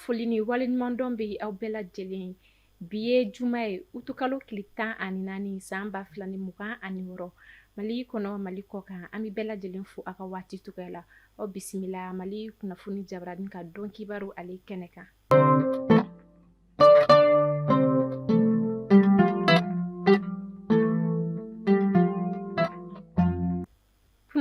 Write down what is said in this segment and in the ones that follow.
foli ni waleɲumandɔn bɛ aw bɛɛ lajɛlen ye bi ye juma ye utukalo tile tan ani naani san ba fila ni mugan ani wɔɔrɔ mali kɔnɔ mali kɔ kan an bɛ bɛɛ lajɛlen fo aw ka waati cogoya la aw bisimila mali kunnafoni jabaranin ka don kibaru ale kɛnɛ kan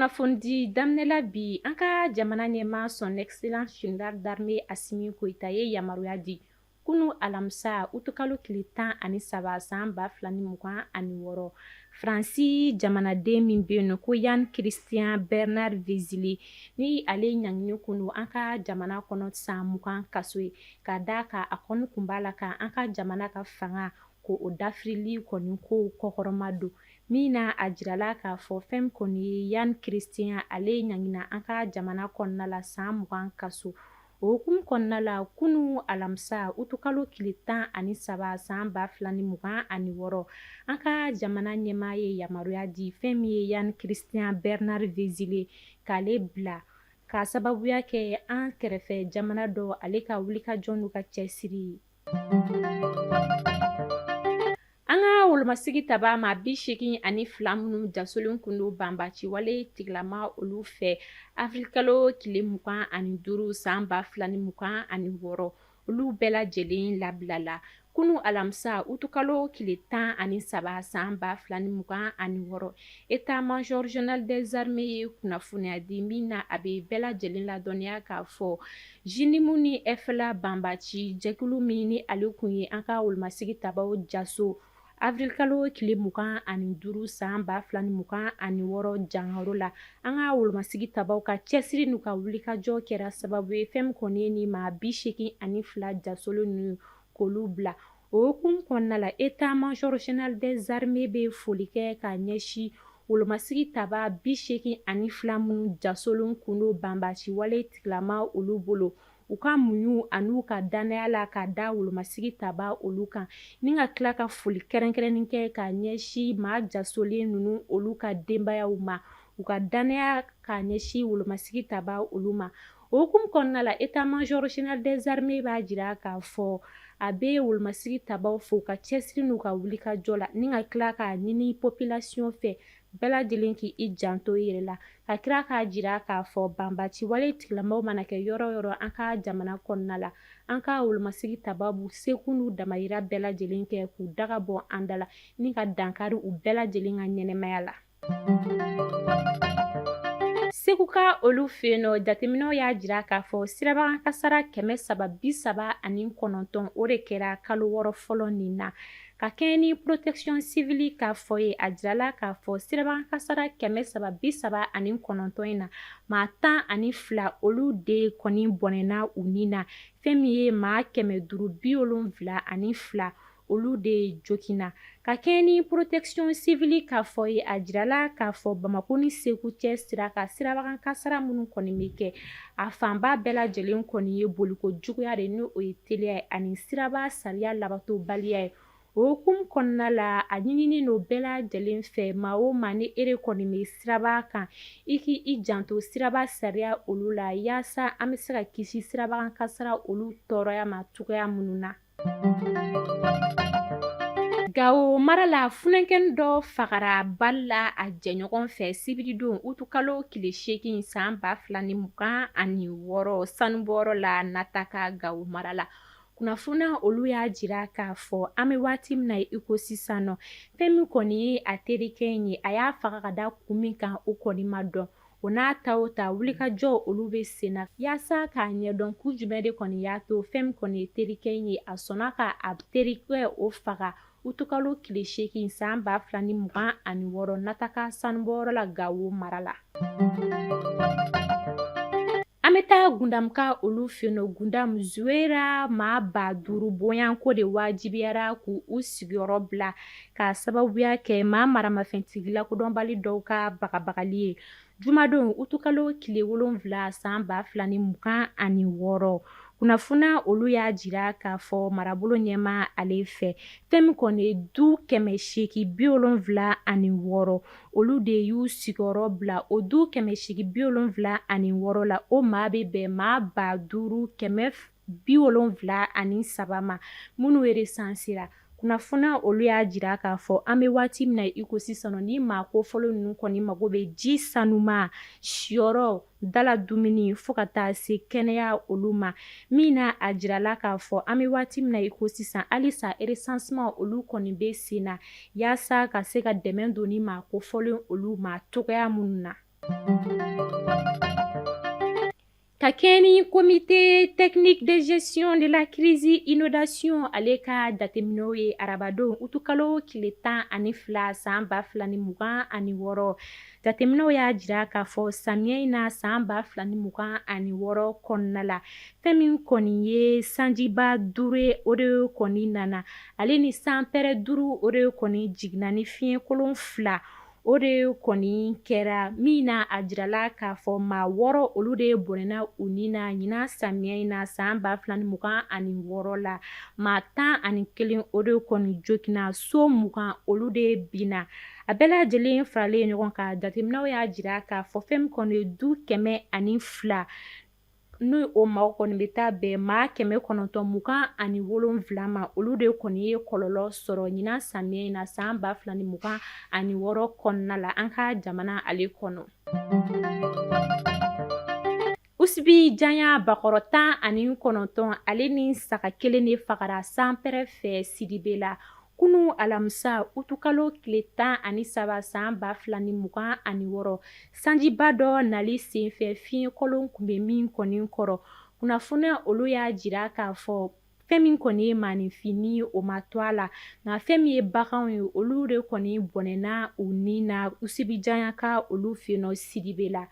kunnafoni daminɛla bi an ka jamana ɲɛmaa son excellence général d'armée asimi goyita ye yamaruya di kunun alamisa utukalo tile tan ani saba san ba fila ni mugan ani wɔɔrɔ Fransi jamanaden min bɛ yen nɔ ko Yann Christian Bernard Vezili ni ale ɲanginin kun don an ka jamana kɔnɔ san mugan kaso ye ka d'a kan a kɔni tun b'a la ka an ka jamana ka fanga k'o dafirili kɔni k'o kɔkɔrɔmadon min na a jirala k'a fɔ fɛn kɔni ye Yann Christian ale ɲangina an ka jamana kɔnɔna la san mugan kaso o hukumu kɔnɔna la kunun alamisa utukalo tile tan ani saba san ba fila ni mugan ani wɔɔrɔ an ka jamana ɲɛmaa ye yamaruya di fɛn min ye Yann Christian Bernard Vezili k'ale bila ka sababuya kɛ an kɛrɛfɛ jamana dɔ ale ka wulikajɔ n'u ka cɛsiri ye An ka wolomasigitabaa maa bi seegin ani fila minnu jasolen tun don banbaaci wale tigilama olu fɛ awirilikalo tile mugan ani duuru san ba fila ni mugan ani wɔɔrɔ olu bɛɛ lajɛlen labilala kunun alamisa utukalo tile tan ani saba san ba fila ni mugan ani wɔɔrɔ état-major général des armées ye kunnafoniya di min na a bɛ bɛɛ lajɛlen ladɔnniya k'a fɔ JNIM ni FLA banbaaci jɛkulu min ni ale tun ye an ka wolomasigitabaaw jaso awirilikalo tile mugan ani duuru san ba fila ni mugan ani wɔɔrɔ jankaro la an ka wolomasigitabaaw ka cɛsiri n'u ka wulikajɔ kɛra sababu ye fɛn min kɔni ye nin maa bi seegin ani fila jasolen ninnu k'olu bila o hukumu kɔnɔna la état-major général des armées bɛ foli kɛ ka ɲɛsin Wolomasigitabaa bi seegin ani fila minnu jasolen tun don banbaaci wale tigilama olu bolo u ka muɲu ani u ka danaya la ka da wolomasigitabaa olu kan ni ka tila ka foli kɛrɛnkɛrɛnnen kɛ ka ɲɛsin maa jasolen ninnu olu ka denbayaw ma u ka danaya ka ɲɛsin wolomasigitabaa olu ma O hukumu kɔnɔna la état major général des armées b'a jira k'a fɔ a bɛ wolomasigi tabaaw fo u ka cɛsiri n'u ka wulikajɔ la ni ka tila k'a ɲini population fɛ bɛɛ lajɛlen k'i janto i yɛrɛ la ka tila k'a jira k'a fɔ banbaci wale tigilamaaw mana kɛ yɔrɔ o yɔrɔ an ka jamana kɔnɔna la an ka wolomasigi tabaa b'u seko n'u damayira bɛɛ lajɛlen kɛ k'u daga bɔ an da la ni ka dankari u bɛɛ lajɛlen ka ɲɛnamaya la seguka olu fɛ yen nɔ jateminɛw y'a jira k'a fɔ sirabakan kasara kɛmɛ saba bi saba ani kɔnɔntɔn o de kɛra kalo wɔɔrɔ fɔlɔ nin na ka kɛɲɛ ni protection civile ka fɔ ye a jirala k'a fɔ sirabakan kasara kɛmɛ saba bi saba ani kɔnɔntɔn in na maa tan ani fila olu de kɔni bɔnɛna u ni na fɛn min ye maa kɛmɛ duuru bi wolonwula ani fila olu de joginna ka kɛɲɛ ni protection civile ka fɔ ye a jirala k'a fɔ bamakɔ ni segu cɛ sira ka sirabakan kasara minnu kɔni bɛ kɛ a fanba bɛɛ lajɛlen kɔni ye boliko juguya de n' o ye teliya ye ani siraba sariya labatobaliya ye o hukumu kɔnɔna la a ɲininen don bɛɛ lajɛlen fɛ maa o maa n'i yɛrɛ kɔni bɛ siraba kan i k' i janto siraba sariya olu la yaasa an bɛ se ka kisi sirabakan kasara olu tɔɔrɔya ma cogoya minnu na Gawo mara la funankɛnin dɔ fagara bali la a jɛɲɔgɔn fɛ sibiridon utukalo tile seegin san ba fila ni mugan ani wɔɔrɔ sanubɔyɔrɔ la Nataka Gawo mara la kunnafoni olu y'a jira k'a fɔ an bɛ waati min na i ko sisan nɔ fɛn min kɔni ye a terikɛ in ye a y'a faga ka da kun min kan o kɔni ma dɔn O n'a ta o ta wulikajɔ olu bɛ sen na yaasa k'a ɲɛdɔn kun jumɛn de kɔni y'a to fɛn min kɔni ye terikɛ in ye a sɔnna ka a terikɛ o faga utukalo tile seegin san ba fila ni mugan ani wɔɔrɔ Nataka sanubɔyɔrɔ la gawo mara la An bɛ taa Gundamka olu fɛ yen nɔ Gundam Zuwera maa ba duuru bɔɲɔgɔnko de wajibiyara k' u sigiyɔrɔ bila k'a sababuya kɛ maa maramafɛntigi lakodɔnbali dɔw ka bagabagali ye jumadon utukalo tile wolonwula san ba fila ni mugan ani wɔɔrɔ kunnafoni olu y'a jira k'a fɔ marabolo ɲɛmaa ale fɛ fɛn min kɔni ye du kɛmɛ seegin bi wolonwula ani wɔɔrɔ olu de y'u sigiyɔrɔ bila o du kɛmɛ seegin bi wolonwula ani wɔɔrɔ la o maa bɛ bɛn maa ba duuru kɛmɛ bi wolonwula ani saba ma minnu resansera kunnafoni olu y'a jira k'a fɔ an bɛ waati min na iko sisan ni maa kofɔlen ninnu kɔni mago bɛ ji sanuma siyɔrɔ dala dumuni fo ka taa se kɛnɛya olu ma min na a jirala k'a fɔ an bɛ waati min na i ko sisan halisa resanseman olu kɔni bɛ sen na yaasa ka se ka dɛmɛ don ni maa kofɔlen olu ma cogoya minnu na ka kɛɲɛ ni comité technique de gestion de la crise inondation ale ka jateminɛw ye arabadon utukalo tile tan ani fila san ba fila ni mugan ani wɔɔrɔ Jateminɛw y'a jira k'a fɔ samiyɛ in na san 2026 kɔnɔna la, fɛn min kɔni ye sanjiba duuru ye, o de kɔni nana, ale ni sanpɛrɛ duuru, o de kɔni jiginna ni fiɲɛ kolon fila, o de kɔni kɛra min na, a jirala k'a fɔ maa wɔɔrɔ, olu de bɔnɛna u ni na ɲinan samiyɛ in na san 2026 la, maa tan ani kelen, o de kɔni jogina, so mugan, olu de binna. A bɛɛ lajɛlen faralen ɲɔgɔn kan jateminɛw y'a jira k'a fɔ fɛn min kɔni ye du kɛmɛ ani fila n'o maa kɔni bɛ taa bɛn maa kɛmɛ kɔnɔntɔn mugan ani wolonwula ma olu de kɔni ye kɔlɔlɔ sɔrɔ ɲinan samiyɛ in na san ba fila ni mugan ani wɔɔrɔ kɔnɔna la an ka jamana ale kɔnɔ Usibijanya bakɔrɔ tan ani kɔnɔntɔn ale ni saga kelen de fagara sanpɛrɛ fɛ Sidibela kunun alamisa utukalo tile tan ani saba san ba fila ni mugan ani wɔɔrɔ sanjiba dɔ nali senfɛ fiɲɛkolon tun bɛ min kɔni kɔrɔ kunnafoniya olu y'a jira k'a fɔ fɛn min kɔni ye maaninfin ye o ma to a la nka fɛn min ye baganw ye olu de kɔni bɔnɛna u ni na Usibijanyaka olu fɛ yen nɔ Sidibela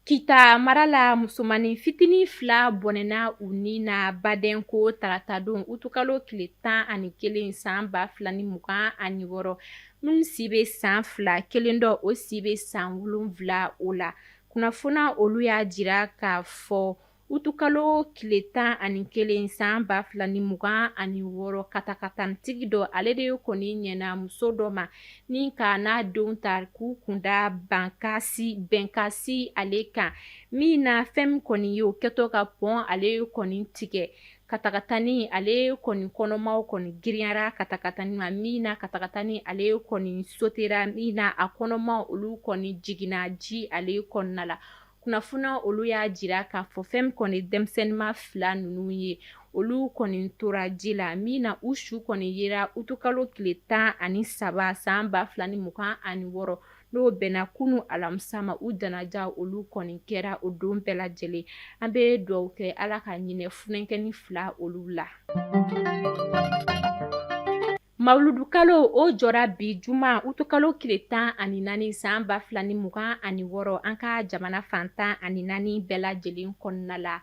Kita mara la musomannin fitinin fila bɔnɛna u ni na Badenko taratadon utukalo tile tan ani kelen san ba fila ni mugan ani wɔɔrɔ minnu si bɛ san fila kelen dɔ o si bɛ san wolonwula o la kunnafoniya olu y'a jira k'a fɔ Utukalo tile tan ani kelen san ba fila ni mugan ani wɔɔrɔ katakatanitigi dɔ ale de kɔni ɲɛna muso dɔ ma ni k'a n'a denw ta k'u kunda bankasi bɛnkasi ale kan min na fɛn min kɔni ye o kɛtɔ ka pɔn ale kɔni tigɛ katakatani ale kɔni kɔnɔmaw kɔni giriyara katakatani ma min na katakatani ale kɔni sotera min na a kɔnɔmaw olu kɔni jiginna ji ale kɔnɔna la kunnafoniya olu y'a jira k'a fɔ fɛn min kɔni denmisɛnninma fila ninnu ye olu kɔni tora ji la min na u su kɔni yera utukalo tile tan ani saba san ba fila ni mugan ani wɔɔrɔ n'o bɛnna kunun alamisa ma u janaja olu kɔni kɛra o don bɛɛ lajɛlen an bɛ dugawu kɛ ala ka hinɛ funankɛnin fila olu la Mawuludukalo o jɔra bi juma utukalo tile tan ani naani san ba fila ni mugan ani wɔɔrɔ an ka jamana fan tan ani naani bɛɛ lajɛlen kɔnɔna la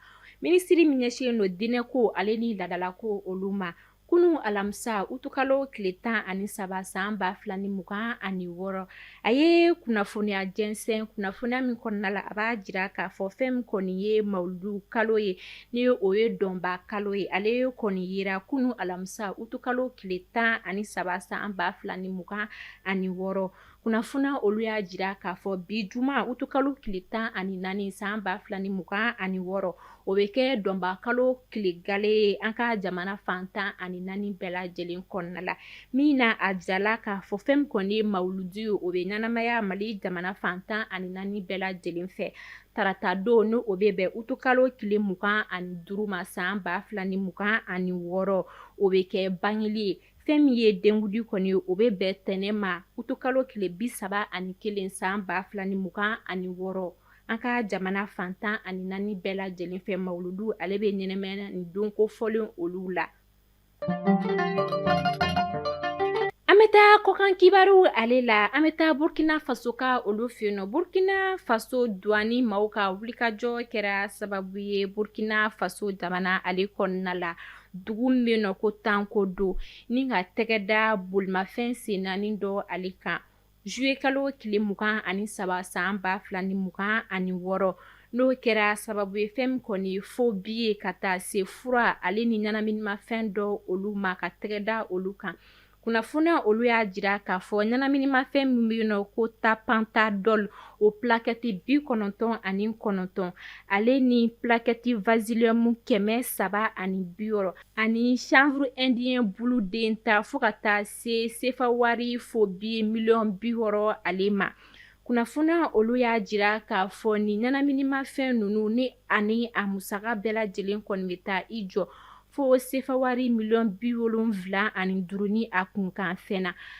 minisitiri min ɲɛsinnen don diinɛ ko ale ni laadala ko olu ma kunun alamisa utukalo tile tan ani saba san ba fila ni mugan ani wɔɔrɔ A ye kunnafoniya jɛnsɛn kunnafoniya min kɔnɔna la a b'a jira k'a fɔ fɛn min kɔni ye mawuludu kalo ye ni o ye dɔnba kalo ye ale ye kɔni yera kunun alamisa utukalo tile tan ani saba san ba fila ni mugan ani wɔɔrɔ kunnafoniya olu y'a jira k'a fɔ bi juma utukalo tile tan ani naani san ba fila ni mugan ani wɔɔrɔ o bɛ kɛ dɔnba kalo tile gale ye an ka jamana fan tan ani naani bɛɛ lajɛlen kɔnɔna la min na a jirala k'a fɔ fɛn min kɔni ye mawuludu ye o bɛ ɲɛnamaya mali jamana fan tan ani naani bɛɛ lajɛlen fɛ tarata don n' o bɛ bɛn utukalo tile mugan ani duuru ma san ba fila ni mugan ani wɔɔrɔ o bɛ kɛ bangeli ye fɛn min ye denkundi kɔni o bɛ bɛn tɛnɛ ma utukalo tile bi saba ani kelen san ba fila ni mugan ani wɔɔrɔ an ka jamana fan tan ani naani bɛɛ lajɛlen fɛ mawuludu ale bɛ ɲɛnamaya nin don kofɔlen olu la an bɛ taa kɔkan kibaru ale la an bɛ taa burukina faso ka olu fɛ yen nɔ burukina faso duwani maaw ka wulikajɔ kɛra sababu ye burukina faso jamana ale kɔnɔna la dugu min bɛ yen nɔ ko tanko don ni ka tɛgɛ da bolimafɛn sen naani dɔ ale kan Zuye kalo tile mugan ani saba san ba fila ni mugan ani wɔɔrɔ n'o kɛra sababu ye fɛn min kɔni fo bi ye ka taa se fura ale ni ɲɛnaminimafɛn dɔ olu ma ka tɛgɛ da olu kan kunnafoni olu y'a jira k'a fɔ ɲɛnaminimafɛn min bɛ yen nɔ ko tapentadol o plakɛti bi kɔnɔntɔn ani kɔnɔntɔn ale ni plakɛti vasiliyumu kɛmɛ saba ani bi ani chanvre indien bulu den ta fo ka taa se sefa wari fo bi miliyɔn bi wɔɔrɔ ale ma kunnafoniya olu y'a jira k'a fɔ nin ɲɛnaminimafɛn ninnu ni ani a musaka bɛɛ lajɛlen kɔni bɛ taa i jɔ fo sefa wari miliyɔn bi wolonwula ani duuru ni a kunkanfɛn na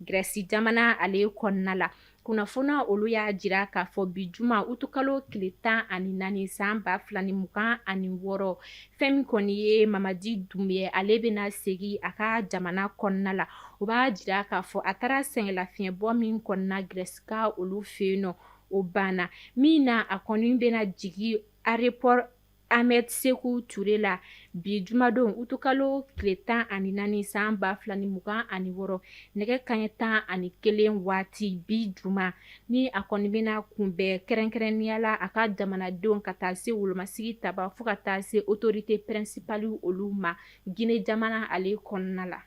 Grèce jamana ale kɔnɔna la kunnafoniya olu y'a jira k'a fɔ bi juma utukalo tile tan ani naani san ba fila ni mugan ani wɔɔrɔ fɛn min kɔni ye Mamadi Doumbouya ale bɛna segin a ka jamana kɔnɔna la o b'a jira k'a fɔ a taara sɛgɛnlafiɲɛbɔ min kɔni na Grèce ka olu fɛ yen nɔ o banna min na a kɔni bɛna jigin aéroport Ahmed Sékou Touré la bi jumadon utukalo tile tan ani naani san ba fila ni mugan ani wɔɔrɔ nɛgɛ kanɲɛ tan ani kelen waati bi juma ni a kɔni bɛna kunbɛn kɛrɛnkɛrɛnnenya la a ka jamanadenw ka taa se wolomasigi taba fo ka taa se autorité principale olu ma Guinée jamana ale kɔnɔna la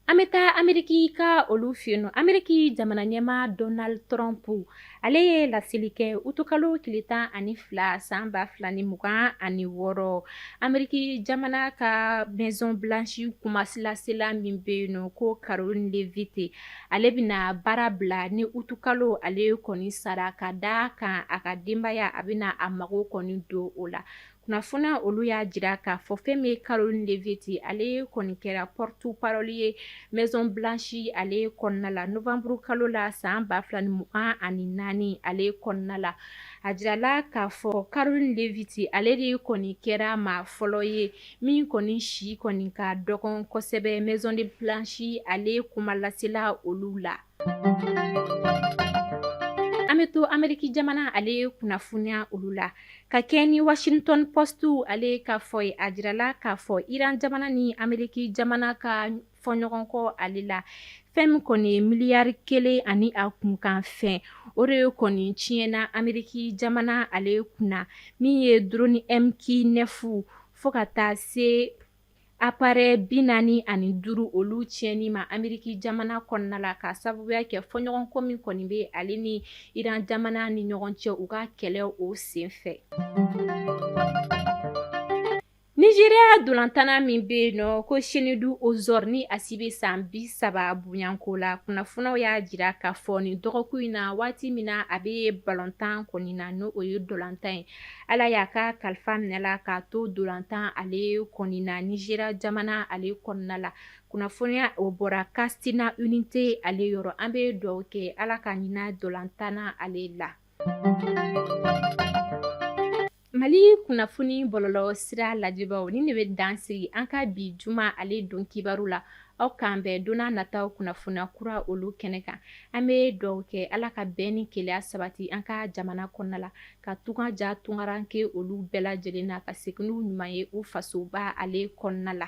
An bɛ taa Ameriki ka olu fɛ yen nɔ, Ameriki jamana ɲɛmaa Donald Trump ale ye laseli kɛ utukalo tile tan ani fila san ba fila ni mugan ani wɔɔrɔ, Ameriki jamana ka Maison blanche kumalasela min bɛ yen nɔ ko Karoline Leavitt ale bɛna baara bila ni utukalo ale kɔni sara ka d'a kan a ka denbaya a bɛna a mago kɔni don o la kunnafoniya olu y'a jira k'a fɔ fɛn min ye Karoline Leavitt ye ale kɔni kɛra porte parole ye maison blanche ale kɔnɔna la novembre kalo la san 2024 ale kɔnɔna la a jira la k'a fɔ Karoline Leavitt ale de kɔni kɛra maa fɔlɔ ye min kɔni si kɔni ka dɔgɔn kosɛbɛ maison blanche ale kumalasela olu la an bɛ to ameriki jamana ale ye kunnafoniya olu la ka kɛɲɛ ni washington post ale ka fɔ ye a jirala k'a fɔ iran jamana ni ameriki jamana ka fɔɲɔgɔnkɔ ale la fɛn min kɔni ye miliyari kelen ani a kunkan fɛn o de ye kɔni tiɲɛna ameriki jamana ale kunna min ye drone MQ9 fo ka taa se Appareil binaani ani duuru olu tiɲɛni ma Ameriki jamana kɔnɔna la k'a sababuya kɛ fɔɲɔgɔnkɔ min kɔni bɛ ale ni iran jamana ni ɲɔgɔn cɛ u ka kɛlɛ o senfɛ Nigeria dolantanna min bɛ yen nɔ ko Chinedu Ozor ni a si bɛ san bi saba bonyanko la kunnafoniyaw y'a jira k'a fɔ nin dɔgɔkun in na waati min na a bɛ balontan kɔni na n'o ye dolantan ye Ala y'a ka kalifa minɛ a la k'a to dolantan ale kɔni na Nigeria jamana ale kɔnɔna la kunnafoniya o bɔra Katsina United ale yɔrɔ an bɛ dugawu kɛ Ala ka hinɛ dolantanna ale la mali kunnafoni bɔlɔlɔ sira lajɛbaaw nin de bɛ dansigi an ka bi juma ale don kibaru la aw k'an bɛn don nataw kunnafoniya kura olu kɛnɛ kan an bɛ dugawu kɛ Ala ka bɛn ni kelenya sabati an ka jamana kɔnɔna la ka tunga diya tungarankɛ olu bɛɛ lajɛlen na ka segin n'u ɲuman ye u fasoba ale kɔnɔna la